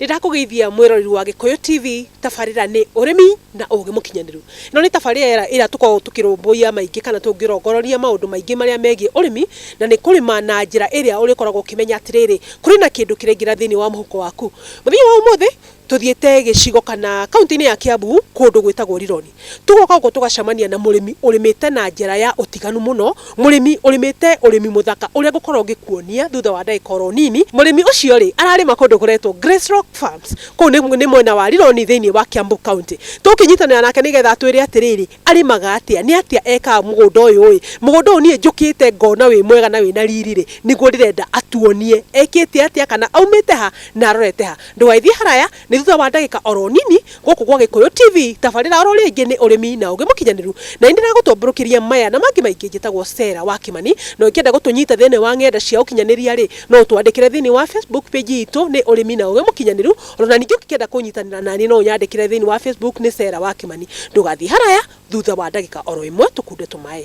Nĩndakũgeithia mwĩroreri wa Gĩkũyũ TV, tabarĩra nĩ ũrĩmi na ũgĩ mũkinyanĩru. Ĩno nĩ tabarĩra ĩrĩa tũkoragwo tũkĩrũmbũiya maingĩ kana tũngĩrongororia maũndũ maingĩ marĩa megiĩ ũrĩmi, na nĩ kũrĩma na njĩra ĩrĩa ũrĩkoragwo ũkĩmenya atĩrĩrĩ, kũrĩ na kĩndũ kĩraingĩra thĩinĩ wa mũhuko waku. Mũthenya wa ũmũthĩ tũthiĩte gĩcigo kana kauntĩ-inĩ ya Kiambu kũndũ gwĩtagwo Rironi. Tũgoka gũkũ tũgacamania na mũrĩmi ũrĩmĩte na njĩra ya ũtiganu mũno, mũrĩmi ũrĩmĩte ũrĩmi mũthaka ũrĩa ngũkorwo ngĩkuonia thutha wa ndagĩka oro nini. Mũrĩmi ũcio rĩ, ararĩma kũndũ kũretwo Grace Rock Farms, kũu nĩ mwena wa Rironi thĩiniĩ wa Kiambu County. Tũgũkĩnyitanĩra nake nĩgetha atwĩre atĩrĩrĩ, arĩmaga atĩa, nĩ atĩa ekaga mũgũnda ũyũ ĩ, mũgũnda ũyũ niĩ njũkĩte ngona wĩ mwega na wĩna riri rĩ, nĩguo ndĩrenda atuonie ekĩte atĩa, kana aumĩte ha na arorete ha. Ndũgagĩthiĩ haraya, Nĩ thutha wa ndagĩka oro nini gũkũ gwa Gĩkũyũ TV tabarĩra oro rĩngĩ nĩ ũrĩmi na ũgĩ mũkinyanĩru na nĩ ndĩragũtũmbũrũkĩria maya na mangĩ maingĩ njĩtagwo Stella wa Kĩmani na ũngĩenda gũtũnyita thĩinĩ wa ng'enda cia ũkinyanĩria rĩ no ũtwandĩkĩre thĩinĩ wa Facebook page itũ nĩ ũrĩmi na ũgĩ mũkinyanĩru oro na ningĩ ũngĩkenda kũnyitanĩra naniĩ no ũnyandĩkĩre thĩinĩ wa Facebook nĩ Stella wa Kĩmani ndũgathiĩ haraya thutha wa ndagĩka oro ĩmwe tũkunde tũmaĩ.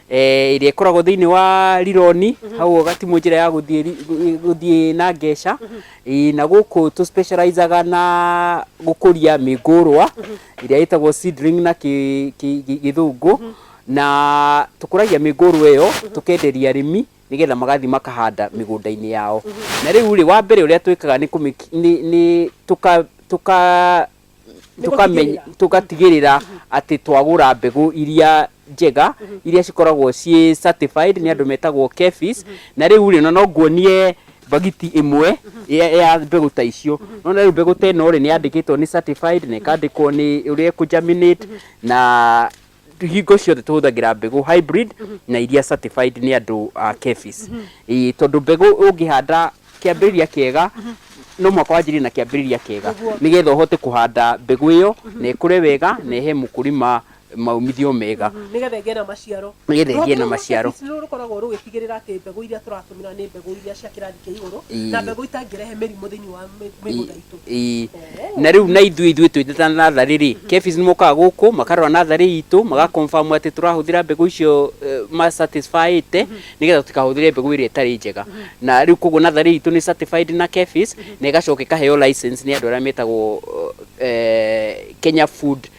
eh, ĩrĩa ĩkoragwo thĩinĩ wa rironi mm -hmm. hau ũgatimwo njĩra ya gũthiĩ na ngeca mm -hmm. e, na gũkũ tũ specializaga na gũkũria mĩngũrwa mm -hmm. ĩrĩa ĩtagwo seedling na gĩthũngũ mm -hmm. na tũkũragia mĩngũrwa ĩyo mm -hmm. tũkenderia arĩmi nigetha magathi makahanda mĩgũnda-inĩ yao mm -hmm. na rĩu rĩ wa mbere ũrĩa twĩkaga nĩ nĩ tuka tuka tũkamenya tũgatigĩrĩra atĩ twagũra mbegũ iria njega iria cikoragwo ciĩ certified nĩ andũ metagwo KEPHIS na rĩu rĩ no nguonie bagiti ĩmwe ya ya mbegũ ta icio no na rĩu mbegũ ta ĩno rĩ nĩ yandĩkĩtwo nĩ certified na ĩkandĩkwo nĩ ũrĩa ĩkũ germinate na hingo ciothe tũhũthagĩra mbegũ hybrid na iria certified nĩ andũ a KEPHIS Ĩĩ, tondũ mbegũ ũngĩhanda kĩambĩrĩria kĩega no mũhaka wanjĩrĩrie na kĩambĩrĩria kĩega nĩgetha ũhote kũhanda mbegũ ĩyo na ĩkũre wega na ĩhe mũkũrima maumithio mega nĩgetha ĩgĩe na maciaro Nĩgetha ĩgĩe na maciaro. Rũhonge rwa KEPHIS rũkoragwo rũgĩtigĩrĩra atĩ mbegũ iria tũratũmĩra nĩ mbegũ iria cia kĩrathi kĩa igũrũ Ĩĩ. na mbegũ itangĩrehe mĩrimũ thĩinĩ wa mĩ- mĩgũnda itũ Ii. Na rĩu na ithuĩ ithuĩ twĩ ta natharĩ rĩ KEPHIS nĩ mokaga gũkũ makarora natharĩ itũ maga confirm atĩ tũrahũthĩra mbegũ icio eh, ma satisfy ĩte nĩgetha tũtikahũthĩre mbegũ ĩrĩa ĩtarĩ njega na rĩu koguo natharĩ itũ nĩ certified na KEPHIS na ĩgacoka ĩkaheo license nĩ andũ arĩa metagwo eh, Kenya Food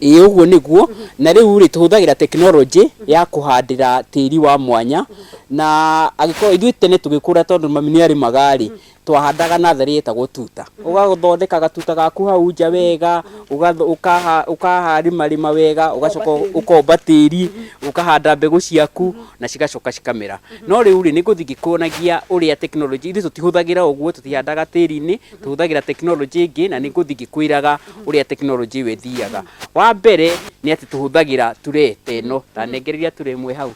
Ĩĩ ũguo nĩguo, na rĩu rĩ tũhũthagĩra tekinoronjĩ ya kũhandĩra tĩri wa mwanya, na angĩkorwo ithuĩ tene tũgĩkũra tondũ mami nĩ arĩmaga rĩ, twahandaga natharĩ yetagwo tuta, ũgathondeka gatuta gaku hau nja wega, ũkarĩma rĩma wega, ũgacoka ũkomba tĩri, ũkahanda mbegũ ciaku na cigacoka cikamera. No rĩu rĩ nĩ gũthiĩ ngĩkuonagia ũrĩa tekinoronjĩ, ithuĩ tũtihũthagĩra ũguo, tũtihandaga tĩri-inĩ, tũhũthagĩra tekinoronjĩ ĩngĩ na nĩ ngũthiĩ ngĩkwĩraga. ũrĩa tekinoronjĩ ĩyo ĩthiaga wa mbere nĩ atĩ tũhũthagĩra turee ta ĩno ta nengereria turee ĩmwe hau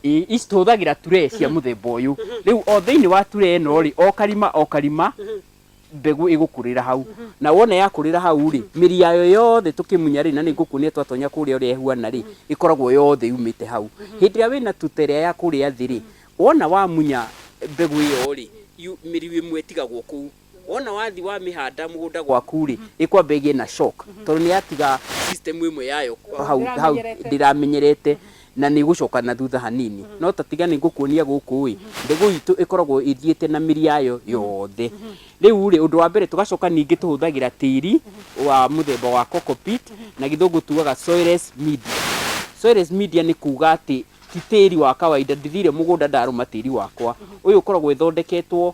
I- ici tũhũthagĩra turee cia mũthemba ũyũ rĩu o thĩinĩ wa turee ĩno rĩ o karima o karima mbegũ ĩgũkũrĩra hau na wona yakũrĩra hau rĩ mĩri yayo yothe tũkĩmunya rĩ na nĩ ngũkuonia twatonya kũrĩa ũrĩa ĩhuana rĩ ĩkoragwo yothe yumĩte hau hĩndĩ ĩrĩa wĩna tuta ĩrĩa ya kũrĩa thĩ rĩ wona wamunya mbegũ ĩyo rĩ yu- mĩri ĩmwe ĩtigagwo kũu Wona wathi wa mĩhanda mũgũnda gwaku rĩ, ĩkwamba ĩgĩe na shock tondũ nĩ yatiga system ĩmwe yayo hau hau ndĩramenyerete na nĩ ĩgũcoka na thutha hanini. No ta tiga nĩ ngũkuonia gũkũ ĩ, mbegũ itũ ĩkoragwo ĩthiĩte na mĩri yayo yothe. Rĩu rĩ, ũndũ wa mbere tũgacoka ningĩ tũhũthagĩra tĩri wa mũthemba wa coco pit, na gĩthũngũ tugaga soilless media. Soilless media nĩ kuga atĩ ti tĩri wa kawainda, ndithire mũgũnda ndarũma tĩri wakwa. Ũyũ ũkoragwo ĩthondeketwo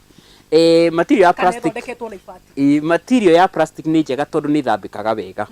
Eh, material ya Kana plastic ĩthondeketwo na ibati. Ĩ, material ya plastic nĩ njega tondũ nĩ ĩthambĩkaga wega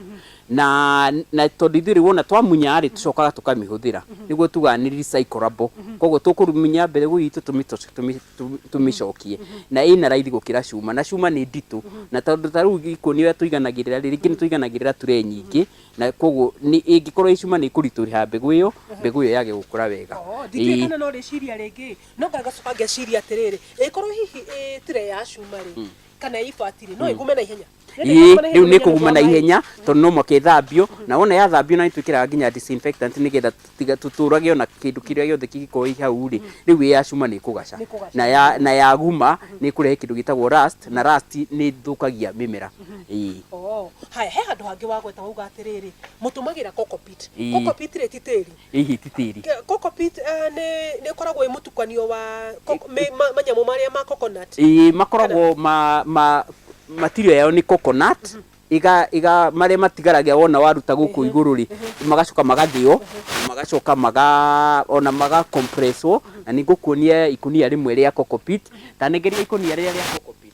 na na tondũ ithuĩ rĩu wona twamunya rĩ tũcokaga tũkamĩhũthĩra nĩguo tugaga nĩ recyclable koguo tũkũmunya mbegũ itũ tũmĩ- tũci- tũmĩ- tũmĩ- tũmĩcokie na ĩna raithi gũkĩra cuma na cuma nĩ nditũ na tondũ ta rĩu ikũnia tũiganagĩrĩra rĩ rĩngĩ nĩ tũiganagĩrĩra ture nyingĩ na koguo nĩ- ĩngĩkorwo ĩ cuma nĩ ĩkũritũha mbegũ ĩyo mbegũ ĩyo yage gũkũra wega Oo, Ĩ. ndingĩkana no rĩciria rĩngĩ no ngagacoka ngeciria atĩrĩrĩ ĩkorwo hihi ĩ tire ya cuma rĩ kana ĩ ibati rĩ no ĩgume na ihenya Ĩĩ, rĩu nĩ kũguma na ihenya tondũ no mũhaka ĩthambio na wona yathambio na nĩtwĩkĩraga nginya disinfectant nĩgetha tũtiga- tũtũrage ona kĩndũ kĩrĩa gĩothe kĩngĩkorwo ĩ hau rĩ rĩu ĩ ya cuma nĩ ĩkũgaca Nĩkũgaca. na ya- na yaguma nĩ ĩkũrehe kĩndũ gĩtagwo rust na rust nĩ ĩthũkagia mĩmera Ĩĩ. Oh, haya he handå hangä wagweta wauga atä rä rä må tå magä ra Ĩĩ. rä ti tä ri Hihi ti tĩri? Ke- Cockpit eh, nĩ nĩ ĩkoragwo ĩ mũtukanio wa coco- me- ma- manyamũ marĩa ma coconut. Ĩĩ, makoragwo ma ma material yao nĩ coconut iga iga marĩa matigaragia wona waruta gũkũ igũrũ rĩ magacoka magathĩo na magacoka maga ona maga compresswo na nĩ ngũkuonia ikunia rĩmwe rĩa cockpit ta negeria ikunia rĩrĩa rĩa cockpit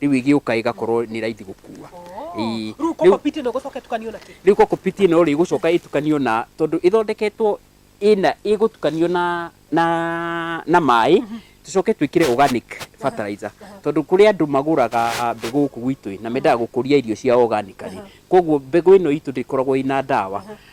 riu igiuka igakorwo ni raithi gukua Ii, Rĩu riu- kokopiti ĩno gũcoka ĩtukanio na kĩ? riu kokopiti ino ri gucoka itukanio na tondu ithondeketwo ina igutukanio na na na mai tucoke twikire organic fertilizer tondu kuri andu maguraga mbegu guku gwitu na mendaga gukuria irio cia organically koguo mbegu ino itu ndikoragwo ina ndawa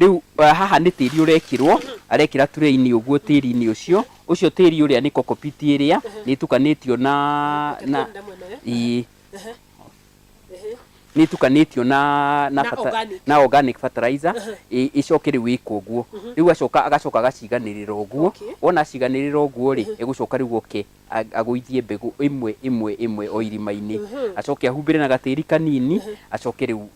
Rĩu haha nĩ tĩri ũrekĩrwo, arekĩra turee-inĩ ũguo tĩri-inĩ ũcio, ũcio tĩri ũrĩa nĩ coco pit ĩrĩa, nĩ ĩtukanĩtio na, na, ĩĩ, nĩ ĩtukanĩtio na, na, bata- na organic fertilizer, ĩ- ĩcoke rĩu ĩkwo ũguo. Rĩu acoka agacoka agaciganĩrĩra ũguo, wona aciganĩrĩra ũguo-rĩ, egũcoka rĩu oke agũithie mbegũ ĩmwe ĩmwe ĩmwe o irima-inĩ, acoke ahumbĩre na gatĩri kanini, acoke rĩu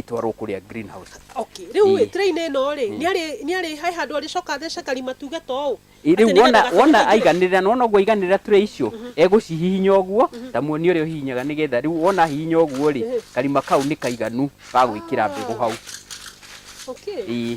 ĩtwarwo kũrĩa green house. Okay, rĩu rĩ, tray -inĩ ĩno rĩ, nĩ arĩ, he handũ arĩcoka athece karima tuge ta ũũ? Ĩ rĩu wona, wona aiganĩrĩra, nĩ wona ũguo aiganĩrĩra tray icio, egũcihihinya ũguo, ta muoni ũrĩa ũhihinyaga nĩgetha rĩu wona ahihinya ũguo rĩ, karima kau nĩ kaiganu ga gwĩkĩra mbegũ hau. Okay. Ĩĩ.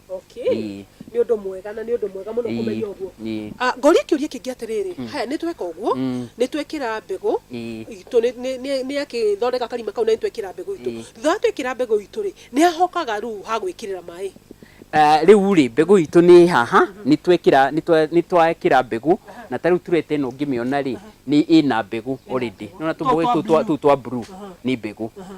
Okay. Ĩĩ. Nĩ ũndũ mwega na nĩ ũndũ mwega mũno Ĩĩ. kũmenya ũguo. Ĩĩ. Ah, ngoria kĩũria kĩngĩ atĩrĩrĩ haya nĩ tweka ũguo Mm. nĩ twekĩra mbegũ Ĩĩ. itũ nĩ- nĩ- nĩ- nĩ akĩthondeka karima kau na nĩ twekĩra mbegũ itũ Ĩĩ. thutha wa twekĩra mbegũ itũ rĩ nĩ ahokaga rĩu ha gwĩkĩrĩra maĩ Ah, rĩu rĩ mbegũ itũ nĩ haha nĩ twekĩra nĩ twa- nĩ twekĩra mbegũ na ta rĩu tureta ĩno ngĩmĩona rĩ nĩ ĩna mbegũ already nona tũmboĩ twa tũu twa- blue. tũu twa blue nĩ mbegũ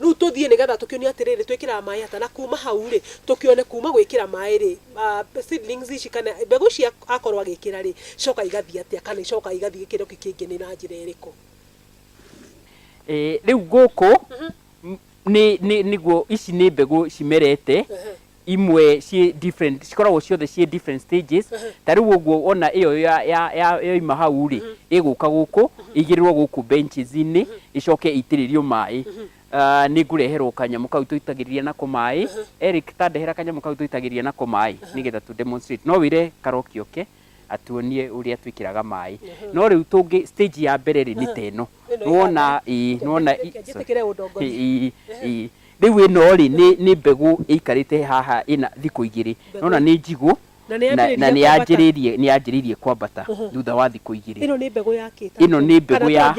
Rĩu tũthiĩ nĩ getha tũkĩonio atĩrĩrĩ twĩkĩraga maĩ ata na kuma hau rĩ tũkĩone kuma gwĩkĩra maĩ rĩ seedlings ici kana mbegũ ici akorwo agĩkĩra rĩ icoka igathiĩ atĩa kana icoka igathiĩ gĩkĩro kĩu kĩngĩ nĩ na njĩra ĩrĩkũ. Rĩu gũkũ nĩguo ici nĩ mbegũ cimerete imwe ciĩ different cikoragwo ciothe ciĩ different stages ta rĩu ũguo wona ĩyo ya- ya- ya- yoima hau rĩ ĩgũka gũkũ ĩigĩrĩrwo gũkũ benches inĩ ĩcoke ĩitĩrĩrio maĩ Ah, nĩ ngũreherwo kanyamũ kau tũitagĩrĩria nako maĩ Eric ta ndehera kanyamũ kau tũitagĩrĩria nako maĩ nĩgetha tũ demonstrate no wĩre karoki oke atuonie uria twikiraga mai no riu tungi stage ya mbere ri ni teno nuona ii nuona ii riu ino ri ni mbegu ikarite haha ina thiku igiri nuona ni njigu na ni anjiririe ni anjiririe kwambata thutha wa thiku igiri ino ni mbegu ya kita ino ni mbegu ya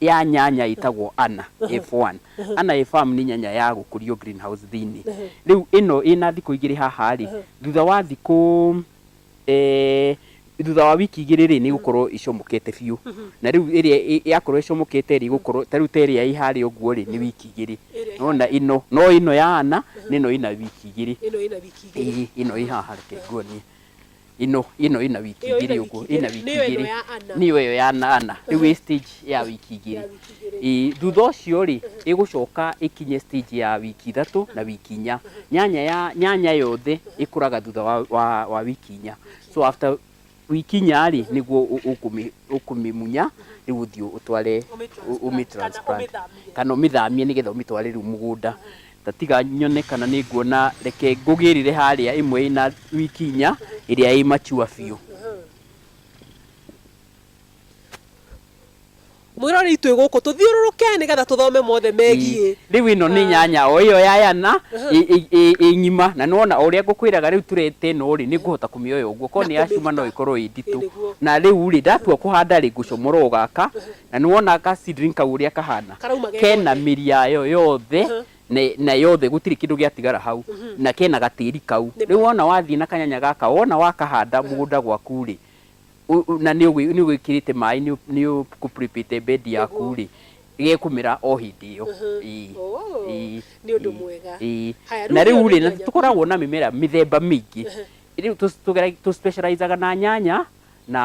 ya nyanya itagwo ana F1 Anae Farm nĩ nyanya ya gũkũrio green house thĩinĩ. Rĩu ĩno ĩna thikũ igĩrĩ haha rĩ, thutha wa thikũ thutha wa wiki igĩrĩ rĩ, nĩ ĩgũkorwo ĩcomokete biũ. Na rĩu ĩrĩa yakorwo ĩcomokete rĩ, ĩgũkorwo ta rĩu ta ĩrĩa ĩĩ harĩa ũguo rĩ, nĩ wiki igĩrĩ. Nĩ wona ĩno. No ĩno ya Anna, na ĩno ĩna wiki igĩrĩ. Ĩĩ, ĩno ĩĩ haha reke nguonie. ino ino ina wiki Ĩyo igiri ĩna uguo wiki ina igĩrĩ. wiki Nĩyo ĩno igiri ya Anna. niyo iyo ya na ana riu i stage ya wiki igiri Ya wiki igĩrĩ. Ĩĩ, thutha ũcio rĩ ĩgũcoka ĩkinye stage ya wiki ithatũ na wiki inya nyanya ya nyanya yothe ĩkũraga thutha wa, wa, wa wiki inya so after wiki inya rĩ nĩguo ũ- ũkũmĩ- ũkũmĩmunya rĩu ũthiĩ ũtware Ũmĩ- ũ- ũmĩ kana transplant. ũmĩthamie. kana ũmĩthamie nĩgetha ũmĩtware rĩu mũgũnda Ta tiga nyone kana nĩ nguona, reke ngũgĩrĩre harĩa ĩmwe ĩna wiki inya ĩrĩa ĩ mature biũ. Mwĩroreri twĩ gũkũ tũthiũrũrũke nĩ getha tũthome mothe megiĩ. Rĩu ĩno nĩ nyanya o ĩyo ya yana ĩ ng'ima. Na nĩ wona o ũrĩa ngũkwĩraga rĩu tureti ĩno rĩ, nĩ ngũhota kũmĩoya ũguo. Korwo nĩ ya cuma no ĩkorwo ĩ nditũ. Na rĩu rĩ, ndatua kũhanda rĩ, ngũcomora o gaka, Na nĩwona ka seedling kau ũrĩa kahana? Karauma ge Kena gothe. mĩri yayo yothe Aha. na, na yothe gũtirĩ kĩndũ gĩatigara hau na kena gatĩri kau. Nĩ Rĩu ma. wona wathiĩ na kanyanya gaka wona wakahanda mũgũnda gwaku-rĩ, ũ- ũ- na nĩũgwĩ- nĩũgwĩkĩrĩte maĩ nĩũ- nĩũkũprĩpĩte bedi Nĩguo. yaku-rĩ, gekũmera o hĩndĩ ĩyo. Aha. Ĩĩ. Oh, Ĩĩ. nĩ ũndũ Ĩĩ. mwega. Ĩĩ. Haya, rĩu Na ĩyo nĩ rĩu-rĩ, na nyanya. tũkoragwo na mĩmera mĩthemba mĩingĩ. Rĩu tũ- tũgera- tũ specialize aga na nyanya na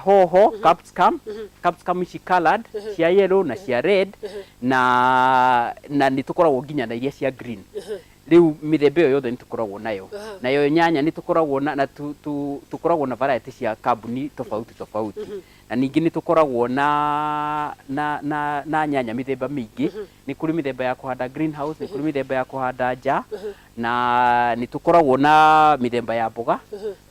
hoho capsicum capsicum ici colored cia yellow na cia red na na nĩ tũkoragwo nginya na iria cia green rĩu mĩthemba ĩyo yothe nĩ tũkoragwo nayo nayo nyanya nĩ tũkoragwo na na tũ- tũ- tũkoragwo na variety cia kambuni tofauti tofauti na ningĩ nĩ tũkoragwo na na na na nyanya mĩthemba mĩingĩ nĩ kũrĩ mĩthemba ya kũhanda green house nĩ kũrĩ mĩthemba ya kũhanda nja na nĩ tũkoragwo na mĩthemba ya mboga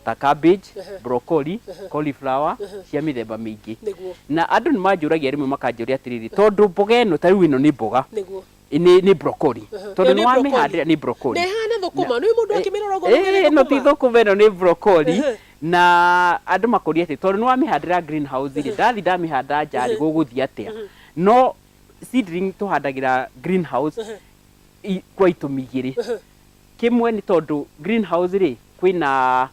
ta cabbage, Ehe. broccoli, Ehe. cauliflower, Ehe. cia mĩthemba mĩingĩ. Nĩguo. Na andũ nĩ manjũragia rĩmwe makanjũria atĩrĩrĩ, tondũ mboga ĩno ta rĩu ĩno nĩ mboga, Nĩguo. nĩ nĩ broccoli. Ehe. Tondũ Ĩyo nĩ nĩ broccoli. wamĩhandĩra nĩ broccoli. Na ĩhana thũkũma, nĩ mũndũ akĩmĩrora ũguo auge nĩ Ĩĩ, ĩno ti thũkũma. thũkũma ĩno nĩ broccoli Ehe. na andũ makoria atĩ tondũ nĩ wamĩhandĩra green house rĩ ndathi ndamĩhanda nja rĩ gũgũthiĩ atĩa no seedling tũhandagĩra green house Ehe. i- kwa itũmi igĩrĩ Ehe. Kĩmwe nĩ tondũ green house rĩ kwĩ na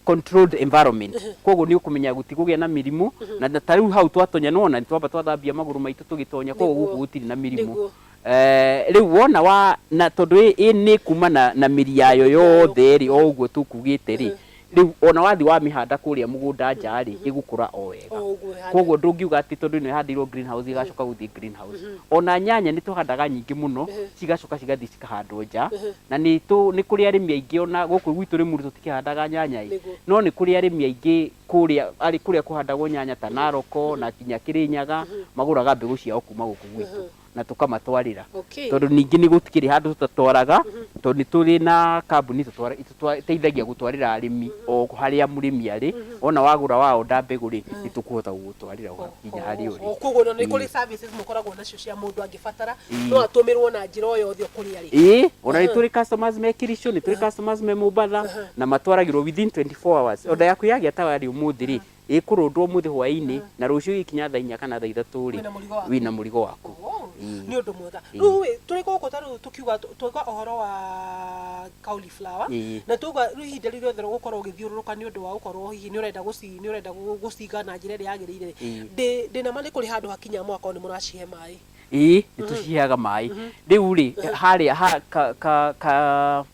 controlled environment kwoguo nĩ ũkũmenya gũtigũgĩa na mĩrimũ na na ta rĩu hau twatonya nĩ wona nĩ twamba twathambia magũrũ maitũ tũgĩtonya kwoguo Nĩguo. gũkũ gũtirĩ na mĩrimũ Nĩguo. Eh, rĩu wona wa na tondũ ĩ ĩ nĩ ĩkuma na na mĩri yayo Mĩri yayo yothe rĩ o ũguo tũkugĩte rĩ Rĩu o na wathiĩ wamĩhanda kũrĩa mũgũnda nja-rĩ, ĩgũkũra o wega. O ũguo ĩhande. Kwoguo ndũngiuga atĩ tondũ ĩno ĩhandĩirwo green house ĩgacoka gũthiĩ green house. O na nyanya nĩ tũhandaga nyingĩ mũno, cigacoka cigathiĩ cikahandwo nja. Na nĩ tũ, nĩ kũrĩ arĩmi aingĩ o na gũkũ gwitũ Rĩmuru tũtikĩhandaga nyanya-ĩ, Nĩguo. no nĩ kũrĩ arĩmi aingĩ kũrĩa, arĩ kũrĩa kũhandagwo nyanya ta Narok na nginya Kĩrĩnyaga, magũraga mbegũ ciao kuma gũkũ gwitũ. na tũkamatwarĩra Okay. tondũ ningĩ nĩ gũtikĩrĩ handũ tũtatwaraga tondũ nĩ tũrĩ na kambuni itũtwara- itũtwa- iteithagia gũtwarĩra arĩmi o harĩa mũrĩmi arĩ ona wagũra wa oda mbegũ rĩ nĩ tũkũhota gũgũtwarĩra ũgakinya harĩa ũrĩ koguo no nĩ kũrĩ services mũkoragwo nacio cia mũndũ angĩbatara no atũmĩrwo na njĩra o yothe kũrĩa arĩ ĩĩ ona nĩ tũrĩ customers me kirico nĩ tũrĩ customers me mũmbatha na matwaragĩrwo within 24 hours oda yaku yagĩa tayari ũmũthĩ rĩ Ĩkũrũndwo ũmũthĩ hwaĩ-inĩ na rũciũ ĩgĩkinya thaa inya kana thaa ithatũ-rĩ, Wĩna mũrigo waku. wĩna mũrigo waku. Oh, Ĩĩ. nĩ ũndũ mwega Ĩĩ. rĩu ĩ tũrĩ gũkũ ta rĩu tũkiuga tũ- twauga ũhoro wa cauliflower Ĩĩ. na twauga rĩu ihinda rĩu rĩothe ũgũkorwo ũgĩthiũrũrũka nĩ ũndũ wa gũkorwo hihi nĩ ũrenda gũci nĩ ũrenda gũ- gũciga na njĩra ĩrĩa yagĩrĩire Ĩĩ. ndĩ ndĩ na ma nĩ kũrĩ handũ hakinya mũgakorwo nĩ mũracihe maĩ Ĩĩ, nĩ tũciheaga maĩ. Rĩu-rĩ, harĩa ha ka ka ka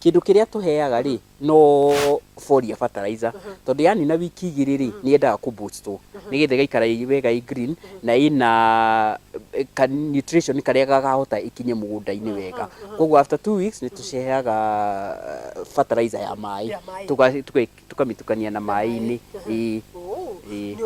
Kĩndũ kĩrĩa tũheaga-rĩ, no foliar fertilizer, tondũ yanina wiki igĩrĩ-rĩ, nĩyendaga kũ boost wo, nĩgetha ĩgaikara ĩ wega ĩ green, na ĩna ka nutrition karĩa gakahota ĩkinye mũgũnda-inĩ wega. Kuoguo after two weeks nĩtũciheaga fertilizer ya maĩ, tũkamĩtukania na maĩ-inĩ, ĩĩ. Ĩĩ.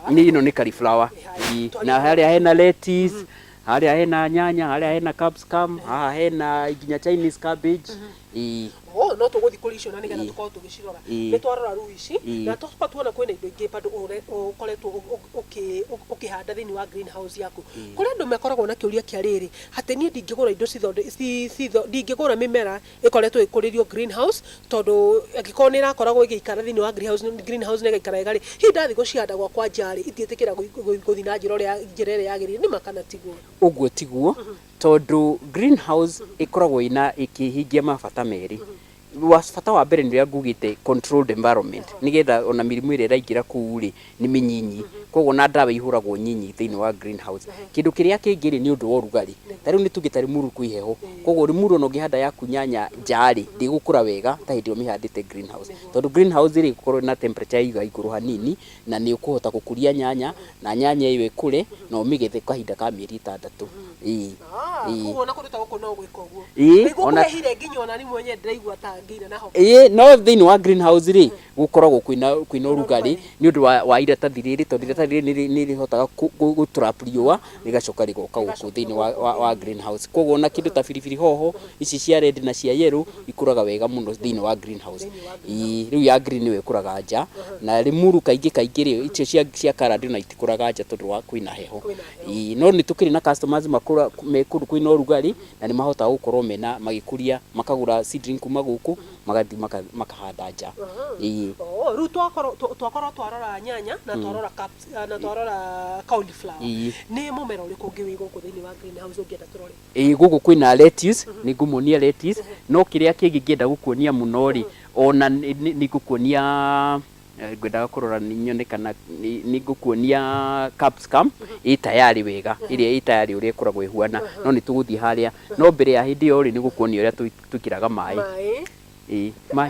Nĩ ĩno nĩ cauliflower, ĩĩ. Na harĩa hena lettuce. Harĩa hena nyanya, harĩa hena capsicum, haha hena nginya Chinese cabbage. Ii. Oh, no tũgũthiĩ kũrĩ icio na nĩgetha Ii. tũkorwo tũgĩcirora Ii. nĩ twarora rĩu ici Ii. na tũcoka tuona kwĩna indo ingĩ bado ũre- ũkoretwo ũ- ũ- ũkĩ- ũ- ũkĩhanda thĩinĩ wa green house yaku kũrĩ andũ makoragwo na kĩũria kĩa rĩrĩ atĩ niĩ ndingĩgũra indo cithonde- ci- citho- ndingĩgũra mĩmera ĩkoretwo ĩkũrĩrio green house tondũ angĩkorwo nĩ ĩrakoragwo ĩgĩikara thĩinĩ wa green house green house na ĩgaikara wega rĩ, hihi ndathiĩ gũcihanda gwakwa nja rĩ, itingĩtĩkĩra gũthiĩ na njĩra ũrĩa njĩra ĩrĩa yagĩrĩire nĩ ma kana tiguo? Ũguo tiguo, tondũ green house ĩkoragwo ĩna ĩkĩhingia mabata merĩ. Bata wa mbere nĩ ũrĩa ngugĩte controlled environment nĩgetha ona mĩrimũ ĩrĩa ĩraingĩra kũu rĩ, nĩ mĩnyinyi, koguo na ndawa ihũragwo nyinyi thĩinĩ wa green house. Kĩndũ kĩrĩa kĩngĩ rĩ, nĩ ũndũ wa ũrugarĩ. Ta rĩu nĩ tuge ta Limuru kwĩ heho, koguo Limuru o na ũngĩhanda yaku nyanya nja rĩ, ndĩgũkũra wega ta hĩndĩ ĩrĩa ũmĩhandĩte green house. Tondũ green house rĩ, ĩgũkorwo ĩna temperature ya igũrũ hanini, na nĩ ũkũhota gũkũria nyanya, na nyanya ĩyo ĩkũre, na ũmĩgethe kahinda ka mĩeri ĩtandatũ. Ĩĩ. Ĩĩ. Koguo o na kũndũ ta gũkũ no gwĩka ũguo. Ĩĩ. Nĩguo kũhe irio nginya o na niĩ mwenyewe ndĩraigua ta ngĩina na homa. Ĩĩ, no thĩinĩ wa green house rĩ, gũkoragwo kwĩna kwĩna ũrugarĩ nĩ ũndũ wa, wa iratathi rĩrĩ tondũ iratathi rĩrĩ nĩrĩ- nĩrĩhotaga kũ- kũ- gũ trap riũa rĩgacoka rĩgoka gũkũ thĩinĩ wa, wa, wa green house koguo ona kĩndũ ta biribiri hoho ici cia red na cia yellow ikũraga wega mũno thĩinĩ wa green house ii rĩu ya green nĩyo ĩkũraga nja na limuru kaingĩ kaingĩ rĩ icio cia, cia colored ona itikũraga nja tondũ wa kwĩna heho ii no nĩtũkĩrĩ na customers makũra, me kũndũ kwĩna ũrugarĩ na nĩmahotaga gũkorwo mena magĩkũria makagũra seedling kuma gũkũ. magathiĩ maka- makahanda nja Ĩĩ. Oh, rĩu twakorwo tw- twakorwo twarora nyanya na twarora caps- ah, na twarora cauliflower Ii. nĩ mũmera ũrĩkũ ũngĩ wĩ gũkũ thĩinĩ wa greenhouse ũngĩenda tũrore Ĩĩ, gũkũ kwĩna lettuce nĩ ngũmuonia lettuce no kĩrĩa kĩngĩ ngĩenda gũkuonia mũno rĩ ona nĩ- nĩ nĩ ngũkuonia ngwendaga kũrora nyone kana nĩ ngũkuonia capsicum ĩ tayari wega ĩrĩa ĩ tayari ũrĩa ĩkoragwo ĩhuana no nĩ tũgũthiĩ harĩa no mbere ya hĩndĩ ĩyo rĩ nĩ ngũkuonia ũrĩa tũ- twĩkĩraga maĩ maĩ ĩ maĩ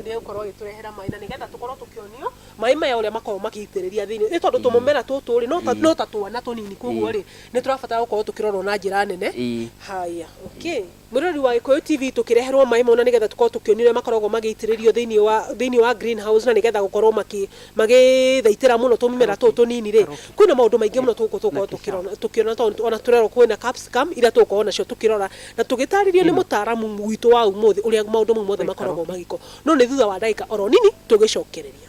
nĩgũkorwo agĩtũrehera maĩ na nĩgetha tũkorwo tũkĩonio maĩ maya ũrĩa makoragwo magĩitĩrĩria thĩinĩ nĩ tondũ tũmũmera tũtũ rĩ no ta- no ta twana tũnini koguo rĩ nĩ tũrabatara gũkorwo tũkĩrorwo na njĩra nene Ĩĩ. haya okay Mwĩrori wa Gĩkũyũ TV tũkĩreherwo maĩ mau na nĩgetha tũkorwo tũkĩonio ũrĩa makoragwo magĩitĩrĩrio thĩinĩ wa thĩinĩ wa green house na nĩgetha gũkorwo makĩ magĩthaitĩra mũno tũmĩmera tũtũ tũnini rĩ, kwĩna maũndũ maingĩ mũno tũgũkũ tũgũkorwo tũkĩrona tũkĩona tondũ ona tũrerwo kwĩna capsicum iria tũgũkorwo nacio tũkĩrora na tũgĩtarĩrio nĩ mũtaaramu witũ wa ũmũthĩ ũrĩa maũndũ mau mothe makoragwo magĩkwo. No nĩ thutha wa ndagĩka oro nini tũgĩcokereria.